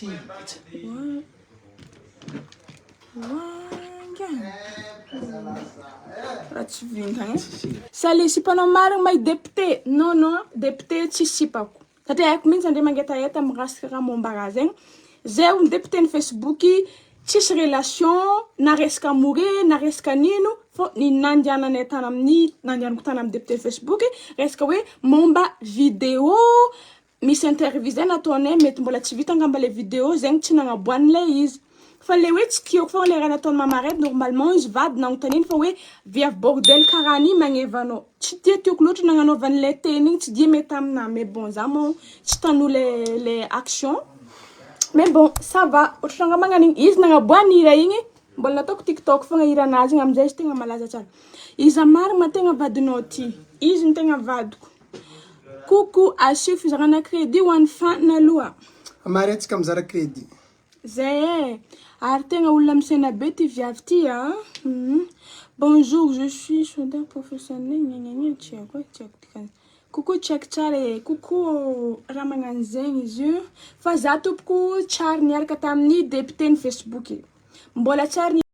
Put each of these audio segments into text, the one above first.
Ity Sale sipa nao marigny may depite non non depite tsy sipako satria aiko mintsy andre mangetaheta mirasika raha momba raha zegny zay ony depite ny facebook tsisy relation na resaka more na resaka nino fô ny nandiananay tany amin'ny nandianako tany amin'ny depite ny facebook resaka hoe momba video Misy interview zay nataonay mety mbola tsy vita angamba le video zegny tsy nagnaboahany le izy fa le hoe tsikihiko fogna le raha nataony mama red normalement izy vady nagnontaniany fa hoe viavy bordel karaha an'io magneva anao tsy dia tiako loatra nagnanaovany le teny igny tsy dia mety aminah mais bon zah moa tsy tanoa le le action mais bon ça va ohatrany raha magnan'igny izy nagnaboahany hira igny mbola nataoko tiktok fogna hiran'azy igny amizay izy tegna malaza tsara iza marigny ma tegna vadinao ty izy no tegna vadiko. Coucou, asio fizarana crédit ho an'i Fany aloha. Amarihetsika mizara crédit. Zay eh! Ary tegna olona misaina be ty viavy ty a! Bonjour, je suis soudeur professionnel gnagnagna tsy haiko eh, tsy haiko dikany. Coucou check tsara eh! Coucou ô! Raha magnano zegny izy io fa za tompoko tsary niaraka tamin'ny député ny Facebook e! Mbola tsary.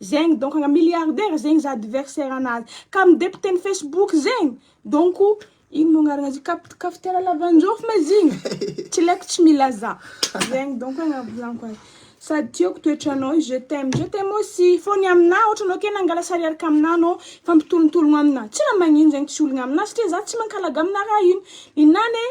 Zegny donc agna milliardaire zegny za adversaire anazy ka am depoteny facebook zegny donc ino mo agnarana azy io kafitera lavanjôfy ma izy igny tsy laiko tsy mila za zegny donc agnavozanko azy sady tiako toetranao io je t'aime je t'aime aussi fô ny amina ôhatra anao ke nangala sary araka amina anao mifampitolotologno amina tsy raha magnino zegny tsy olagna amina satria za tsy mankalaga amina raha ino ninahy anie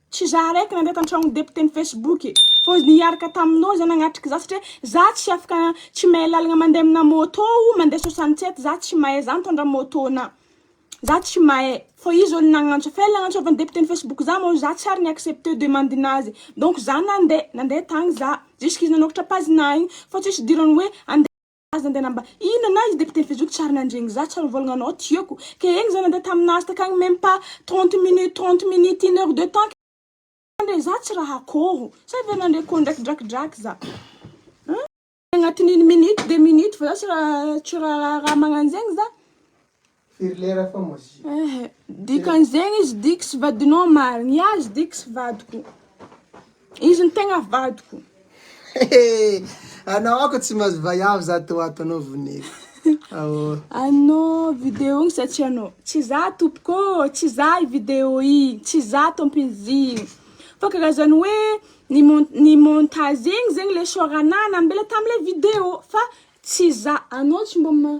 Tsy za araiky nandray tantragnon'i député ny Facebook e! Fa ozy nihiarka taminao zay nagnatrika za satria za tsy afaka tsy mahay lalagna mandeha amina moto ou mandeha soixante sept za tsy mahay za mitondra moto na za tsy mahay fô izy olo nagnantso fa ela nagnantsôvan'i député ny Facebook za mô za tsy ary ni accepter demandinazy donc za nandeha nandeha tagny za jusqu'izy nanôkatra page-na igny fô tsisy idirany hoe andeha Aza ndeha namba inona na izy député fezoko tsy ary nandregny za tsy ary nivôlagna anao tiako ke egny za nande taminazy takagny meme pas trente minutes trente minutes une heure de temps ndre za tsy raha akôro sa ve nandre ko ndraiky drakidraky za hein agnatin'igny minute deux minute fa za tsy raha tsy raha raha magnanjegny za. Firy lera fa mozi. Eh, dikan'izegny izy diky sy vadinao omaly. Ny azy diky sy vadiko. Izy ny tegna vadiko. Anao ako tsy mahazo vaiavy za to ato anao voneko. Ao. Anao vidéo sa tsy anao? Tsy za tompoko, tsy za i vidéo i, tsy za tompin'izigny. Fa karazany hoe ny mon- ny montage igny zegny le soranà nambela tam'le vidéo fa tsy za. Anao tsy mbô ma-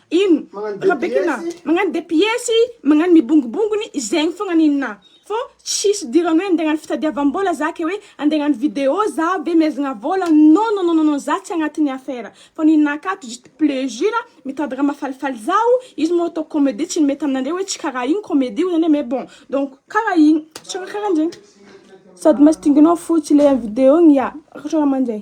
Ino ra bekina magnano de piesy magnano mibongobongony zegny fogna nina fô tsisy idirany hoe andeha agnano fitadiavam-bola za ke hoe andeha agnano video za ve mihezagna vola non non non non za tsy agnatin'ny affaire fô nina akato juste plezira mitady raha mahafalifaly zaho izy moa ataoko comedie tsy nimety aminandreo hoe tsy karaha igny comedie hoy zany hoe mais bon donc karaha igny tsy raha karahanjegny sady masy dinganao fotsy le am video igny ya raha ohatra raha manjay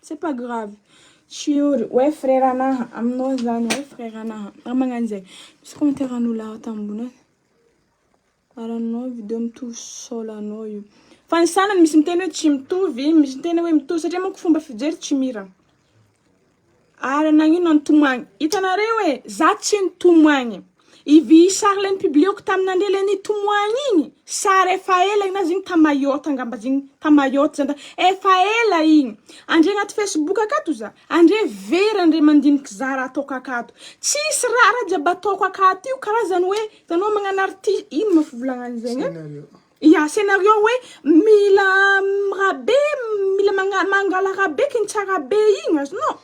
C'est pas grave. Shiory, oe frère anaha aminao zany oe frère anaha raha magnano zay misy commentaire anao laha ato ambony any ary anao video mitovy sol anao io fa ny sanany misy miteny oe tsy mitovy misy miteny oe mitovy satria manko fomba fijery tsy mira ary nagnino no nitomagny hitanareo e za tsy nitomagny Ivy sary le nipublieoko tam nandre le nitomoagny igny sary efa ela igny na zigny ta mayotte angamba zigny ta mayotte zany ta efa ela igny andre agnaty facebook akato za andre very andre mandiniky za raha ataoko akato tsisy raha raha jiaby ataoko akato io karazany hoe itanao magnano arti- ino ma fivolagnagny zegny a ya scenario hoe mila raha be mila magna- mangala raha be kintsa raha be igny azonao.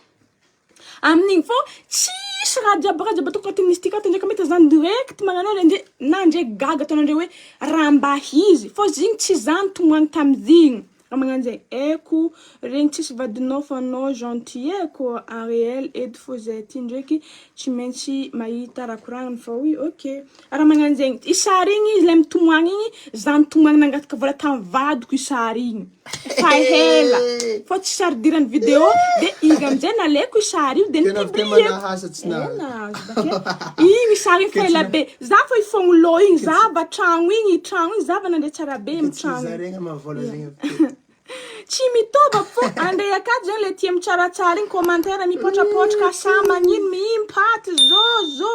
Amin'igny fô tsisy raha jiaby raha jiaby ataoko mistika ato ndraiky mety zany direct magnanao le ndre na ndre gaga ataon'andreo hoe raha mba izy fô zigny tsy za nitomany tamzigny raha magnano zay eko regny tsisy vadinao fa anao gentil e ko ariel eto fô zay aty ndreky tsy maintsy mahita raha koragniny fa oui ok Raha magnano zegny i sary igny izy le mitomagny igny, za mitomagny nangataka vola tamin'ny vadiko i sary igny efa ela fa tsy sary idiran'ny video de izy amizay naleko i sary io de ni-publieko igny sary igny fa ela be za fa hifoagno lô igny za va tragno igny i tragno igny za va nandre tsara be amy tragno tsy mitôva fô andray akato zegny le tia mitsaratsara igny commentaire mipotrapotraka sa magnino mihimpaty zôzô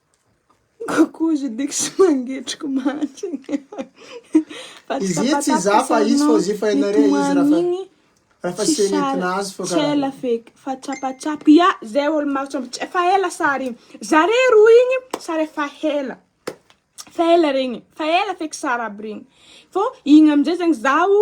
Kokozy lik sy mangetriko mantsy. Izy iny tsy izaho fa izy fa ozy fa ianareo izy raha fa raha fa sena entina azy fa karaha. Tsela fake fa tsapatsapy ya zay olo maro tsapa tsapy efa ela sary igny zare roa igny sary efa ela efa ela regny efa ela feky sary aby regny fô igny amizay zegny zaho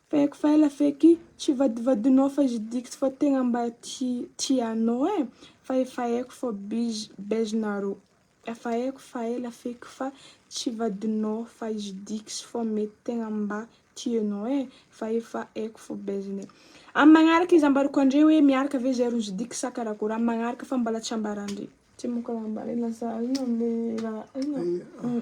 Fake fa ela feky tsy vadivadinao fa izy diks fa tegna mba tia anao eh fa efa haiko fa biz bez nareo efa haiko fa ela feky fa tsy vadinao fa izy diks fa mety tegna mba tia anao eh fa efa haiko fa bez ne am magnaraka izy ambarako andre hoe miaraka ve zay rozy diks sa karakôry am magnaraka fa mbola tsy ambara andre tsy mbola ambara lasa inona le raha inona.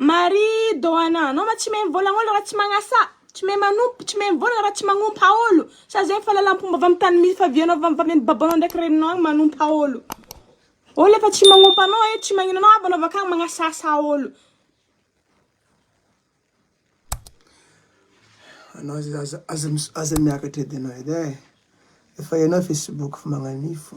Marie Doana, anao ma tsy mey mivolagna olo raha tsy magnasa, tsy mey manompo, tsy mey mivolagna raha tsy magnompa olo, sa zegny fahalalam-pomba avy amin'ny tany misy fa vianao avy amin'ny babanao ndraiky reninao agny magnompa olo, olo efa tsy magnompa anao e, tsy magnino anao avy anao avy akagny magnasasa olo. Anao zay aza aza aza miakatra edy anao edy e, efa hainao facebook fa magnan'io fô.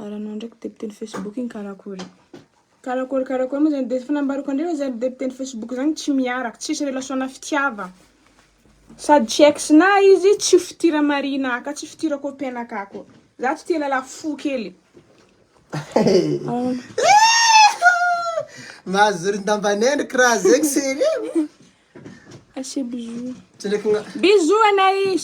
Ary anao ndraiky député ny Facebook igny karakory? Karakory karakory moa zany de fa nambarako andreo oe za ry député ny Facebook zany tsy miaraka, tsisy relation na fitiava. Sady tsy ex na izy, tsy ho fitira marihina aka, tsy fitira copain aka koa. Za tsy tia lala fo kely. Mahazoro ndamba neno kra zegny serieux. Asia bisous. Tsindraiky na. Bisous anay.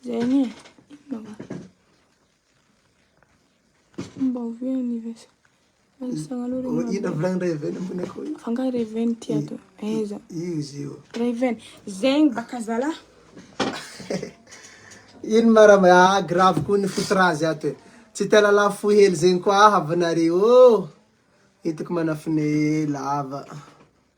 Zay anie e. Inona va? Mba ovy anniversaire. Anisagna aloha Ô, regny. Ina volagny ray veny ambony akoho io? Fanga reven ty ato. Aiza? Io izy io. Reven. Zegny baka zala. Ino ma raha ma- ah, grave koa ny fototra azy ato e. Tsy te lala fohy hely zegny koa aho avy nareo ô. Hitako manafine lava.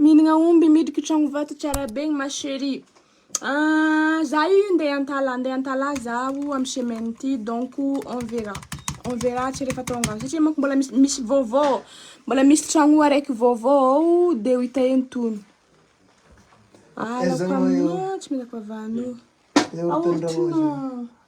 Mihinagna omby miditry ko tragno vato tsara be ny ma cherie ah za io ndeha antala ande antala zaho am semaine ty donc on verra on verra tsy refa tonga any satria manko mbola misy misy vaovao ao mbola misy tragno araiky vaovao ao de ho ita eny tony ah alako aminao tsy mila koa vanio aoa ty ma.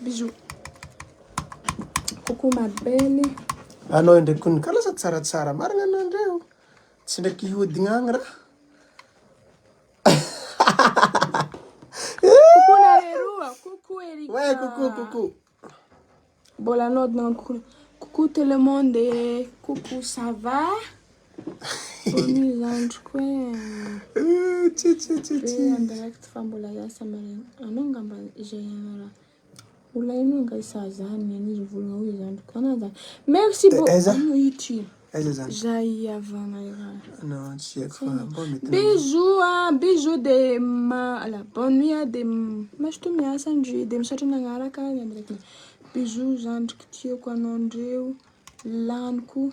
Bisous. Coucou ma belle. Anao indray ko nika lasa tsaratsara marina anao indray o. Tsy ndraiky hihodigna agny raha. Coucou nareo roa. Coucou Erika. Ouais, coucou, coucou. Mbola naodina coucou tout le monde. Coucou ça va? Bonne zandriko e. Be andraikitra fa mbola hiasa maraina. Anao ngamba izay anara. Olona ino anga isaha zany ny an'izy volona hoy zandriko. Anao zany. Merci bo. Aiza? Anao ity. Aiza zany? Zay hiavana iray. Anao tsy haiko fa mba mety. Bisous ah, bisous de ma ala bonne nuit ah de mazotoa miasa ndry de misaotra nagnaraka ny andraikitra. Bisous zandriko tiako anao ndreo laniko.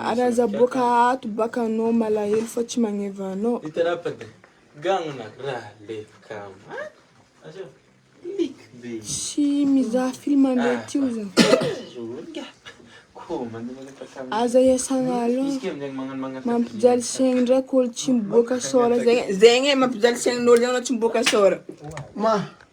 Ary aza boaka ato baka anao malahelo fa tsy magneva anao. Tsy mizaha film ndray ty oza. Aza iasagna alou. Mampijaly saigny ndraiky olo tsy miboaka sôra zegny zegny e mampijaly saignin'olo zegny anao tsy miboaka sôra.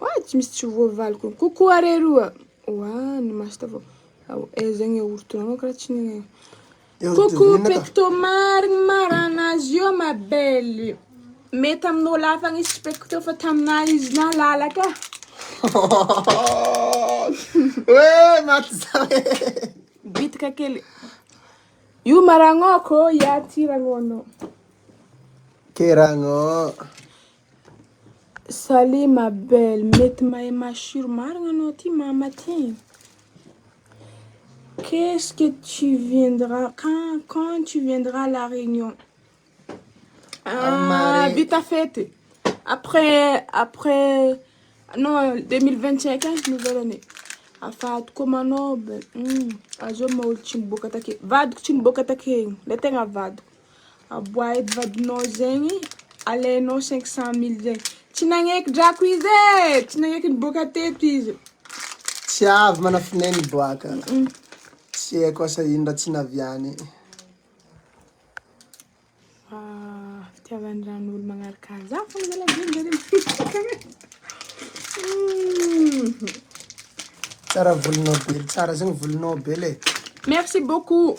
Oa tsy misy tsy voavaliko ny koko are roa. Oa ny masta vao. Ao eh zegny ortona manko raha tsy ny koko pecto marigny marana azy io ma belle. Mety amin'olo hafa ny izy pecto fa taminah izy nalalaka. Oe maty za e. Bitika kely. Io maragnoko ia ty ragno anao. Ke ragno. Salut ma belle, mety mahay masiro marina anao ty mama ty, qu'est ce que tu viendra quand quand tu viendra à la réunion? Aah vita fety après après non deux mille vingt cinq any no hiverana e, afahako koa manao, azao maha olo tsy niboaka take, vadiko tsy niboaka take, le tegna vadiko. Aboahidy vadinao zegny alainao cinq cent mille zegny tsy nagneky drako izy e tsy nagneky niboaka teto izy. Tsy avy manafine ny boaka. Tsy haiko asa ino raha tsy naviany. Fa fitiavan-dran'olo magnaraka za fôgna zalahy be njare mihitsy. Tsara volonao be, tsara zegny volonao be le. Merci beaucoup.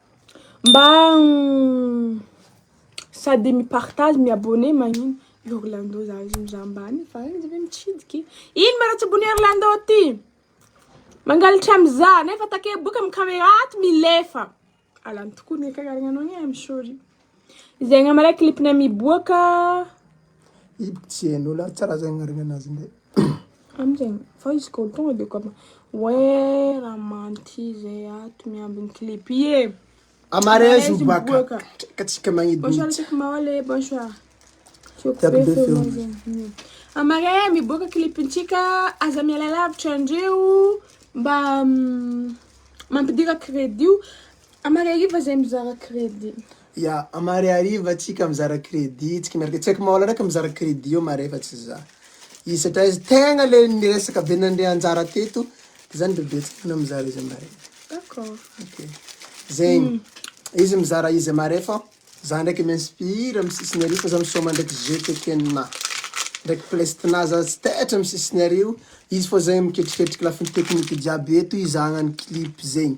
Mba sady mi partage mi abonner magnino i Orlando za izy mizaha ambany fa izy ve mitsidika e? Ino ma raha tsy bon'i Orlando ty? Mangalatra mizaha nefa take boka amin'ny camera ato milefa! Alany tokoa ny ankahiarignanao anie I'm sorry. Izay angamba ilay clip-ny miboaka Ibo tsy hain'olo ary tsy raha zay agnaran'ny anazy ndray. Amin'izegny fa izy koa tonga de kôfa wee ramanty zay ato miambigny clip ie. A mariage miboaka miboaka tsika magnidy Bonsoir mihitsy. Tsika mahola e bonsoir. Tiako Tiako be be feonao feonao. zegny. A mariage e miboaka clip-ntsika aza miala lavitra andreo mba mampidira credit-o. Amariariva izay mizara credit. Ya, amariariva tsika mizara credit tsika miaraka, tsy haiko maola ndraiky mizara credit eo mare fa tsy za, izy satria izy tegna le niresaka be nandre anjara teto de zany bebe tsy mahay mizara izy amare. D'accord. Ok, zegny izy mizara izy amare fô za ndraiky mi-inspire amy sisiny ary fa za misaoma ndraiky GTK-na ndraiky plest-na za tsy taitra amy sisiny ary io, izy fô zegny miketriketriky lafiny technique jiaby eto hizahagna ny clip zegny.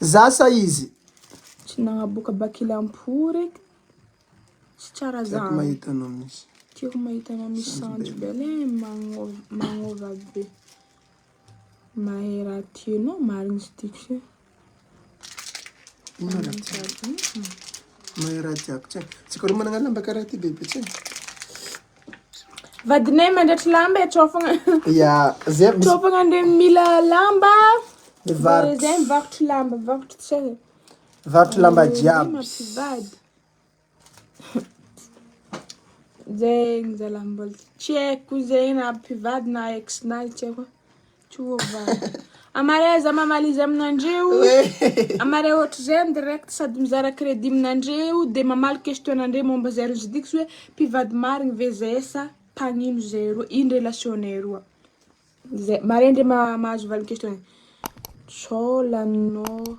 Zasa izy. Tsy nagnaboaka bac la mpo re ka. Tsy tsara zany. Tiako mahita anao miss. Tiako mahita anao miss Sanjy Bella eh magnova be. Mahay raha tianao marigny izy ty kse. Inona raha tianao? Mahay raha tiako tsara. Tsika roa managna lamba karaha ty bebe tsika. Vadinay mandratry lamba e, trao fogna. Ya, zay aby misy. Trao fogna ndray mila lamba. Mivarotra. Zay mivarotra lamba, mivarotra tsy hay. Mivarotra lamba jiaby. Mampivady. Zay zalahy mbola tsy haiko zay na mpivady na ex-nay tsy haiko. Amare za mamaly izy aminandreo amare ohatr'izay ny direct sady mizara credit aminandreo de mamaly question anandreo momba zay roa zay ty tsy hoe mpivady marigny ve zahay sa mpagnino zahay roa ino relation nay roa zay mare ndray mahazo valiny question zay sao laninao.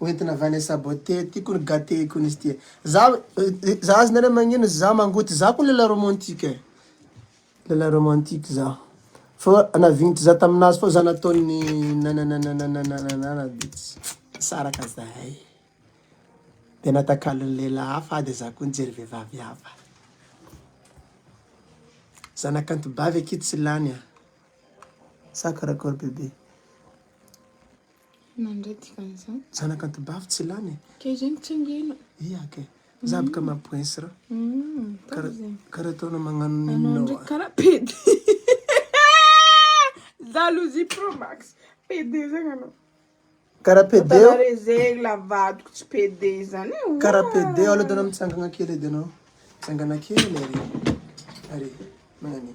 Ho entina avy any sabote ty kony gate kony izy ty. Za za azy nareo magnino za mangoty za ko lelah romantique eh lelah romantique za fa na vignitry za taminazy fô za nataony nanananananananana de tsy nisaraka zahay de natakalony lelah hafa ah de za ko nijery vevavy hafa. Zanakanto bavy akia tsy lany ah sa karakory bebe. Nandray dikany zany. Zanaka antibavy tsy lany e. Kay zay mitsingena. Ia kay. Zaby ka mapoins ra. Kara taona magnano ninona wa. Kara pede. Jalousie pro max. Pede zany anao. Kara pede. Kara rezegny la vadiko tsy pede zany. Kara pede alo dana mitsangana kely edy anao. Tsangana kely. Are. Magnan'io.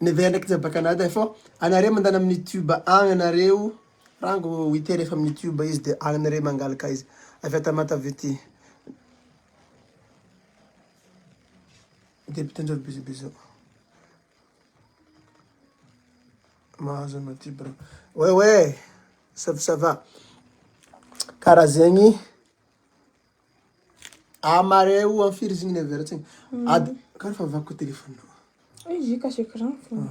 Nevers ndraiky jamba Canada eh, fô anareo mandany amin'ny YouTube agny anareo, rango wite refa amin'ny YouTube izy de agny anareo mangalaka izy, avy à Tamatave ty. Dia mpitondra bisous bisous. Mahazo anao ty bro. Ouais ouais, ça ça va. Karaha zegny Ah marais o am firy izy igny niaveratsiny? Ady kara fa vaky koa téléphone nao. Izy io cache écran fôgna.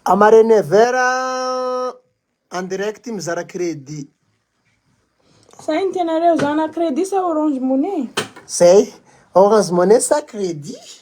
A marais Never en direct mizara crédit. Sahy ny tianareo zana crédit sa orange money? Zay, orange money sa crédit?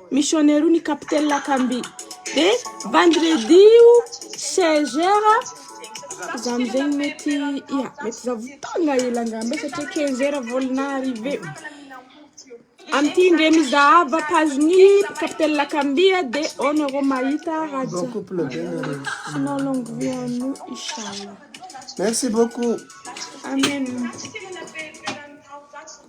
Missionnaire io ny capitaine Lakamby. Dia vendredi io 16 heures za amizegny mety ya mety za vao tonga hela angamba satria 15 heures vao na-arriver. Amin'ity indray mizahava page-n'i capitaine Lakamby a dia ao nareo mahita raha jiaby. Sinon longue vie à nous inchallah. Merci beaucoup. Amen.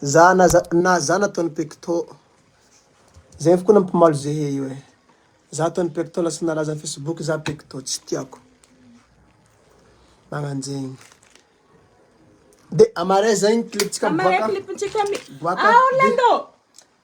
Za na za na za nataon'i pecto zay koa nampimaly ze he io e! za ataon'i pecto lasa nalaza am facebook za pecto tsy tiako magnano zegny de amare zegny clip-tsika miboaka boaka.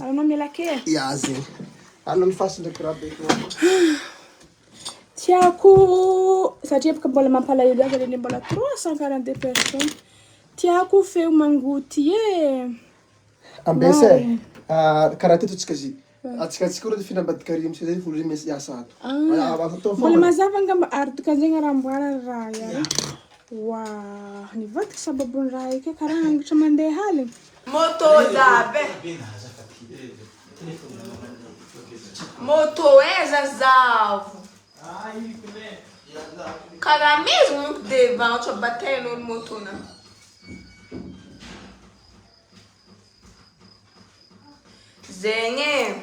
Alanao melaky e. Ya zay. Alona ny fasy ndraiky raha be toa. Tiako satria bôka mbola mampalahelo azy reny mbola 342 personnes. Tiako feo mangoty e. Ambesa e. Ah, karaha teto tsika zy. Atsika atsika ora fina ambadikary misy zay volo misy yasa ato. Ah, mbola mazava angamba ary dikan'zegny raha amboariny raha ya. Wa, nivadika sababon'ny raha io ke karaha hangotra mandeha aligny. Moto zabe Moto eza zavo Karaha mezigny moko de varotra bataille olo moto na Zegny e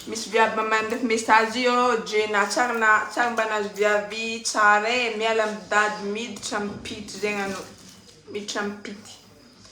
Misy viavy mba mandefa message io ô Djena tsary na tsary mba nahazo viavy tsara e miala am dady miditra am pity zegny anao Miditra am pity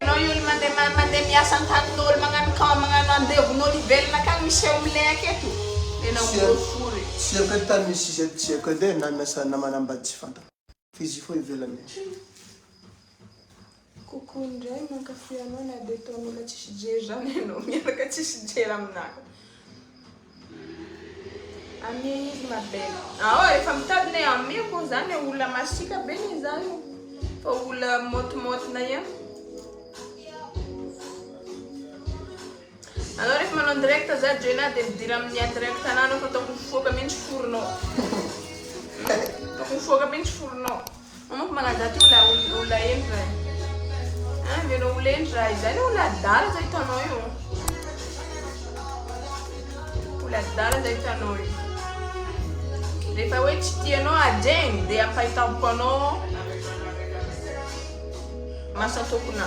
Enao io ny mande mande miasa antaninolo magnano cam magnano andevonolo hivelona akagny miseho milehaka eto enao molo fory. Tsy haiko edy tany misy izy eto tsy haiko edy e na miasa na manambady tsy fantako fa izy io fô ivelany agny. Coucou indray mankafy anao na de ataon'olona tsisy jery zany enao miaraka tsisy jery aminah. Amie izy ma belle. Ao efa mitady ne amie ko zany e olona masiaka be ne zany o. Fa olona motimotina ihany. Anao rehefa manao direct za joina de midira amin'ny indirect ananao fa ataoko mifoaka mihitsy foronao. Ataoko mifoaka mihitsy foronao. Anao manko manadala ty olona olona heno zay. Ah, mena olona heno raha izay le olona adala zay hitanao io. Olona adala zay hitanao io. Rehefa hoe tsy tianao adregny dia ampahitampoka anao masakoakonà.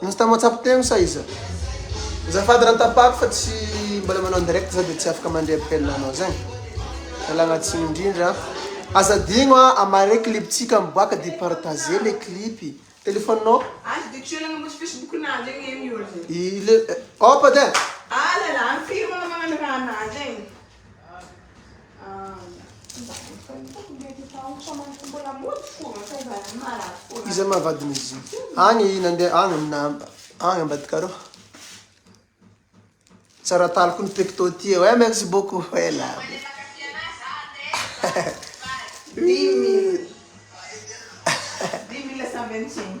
Insta mahatsapy teny sa iza? Azafady raha tapako fa tsy mbola manao direct za de tsy afaka mandre appel anao zany. Ialagna tsiny indrindra. Aza adino a, amare clip-tsika miboaka de partager le clip. Telephone-nao? Aza adino tsy ialagna ambony Facebook nazy egny e miolagna. I le, eh, opa de. Alala, firy moa anao magnano raha nazy egny. Iza ma vadiny izy io? Agny nandeha agny na agny ambadika arô. Tsara taloko ny pecto ty eo. Eh merci beaucoup. Eh là. Dimy mille. Dimy mille cent vingt-cinq.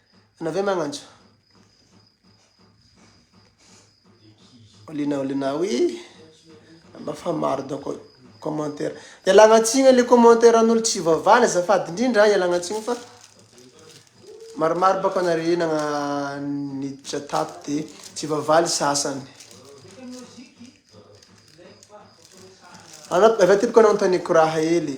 Ianao ve magnantso? Olena olena oui. Anao fa maro donc commentaire. Ialagna tsigny le commentaire an'olo tsy vavana azafady indrindra ialagna tsigny fa maromaro baka anare nagna niditra tato de tsy vavaly sasany. Anao avy aty baka anao anontaniako raha hely.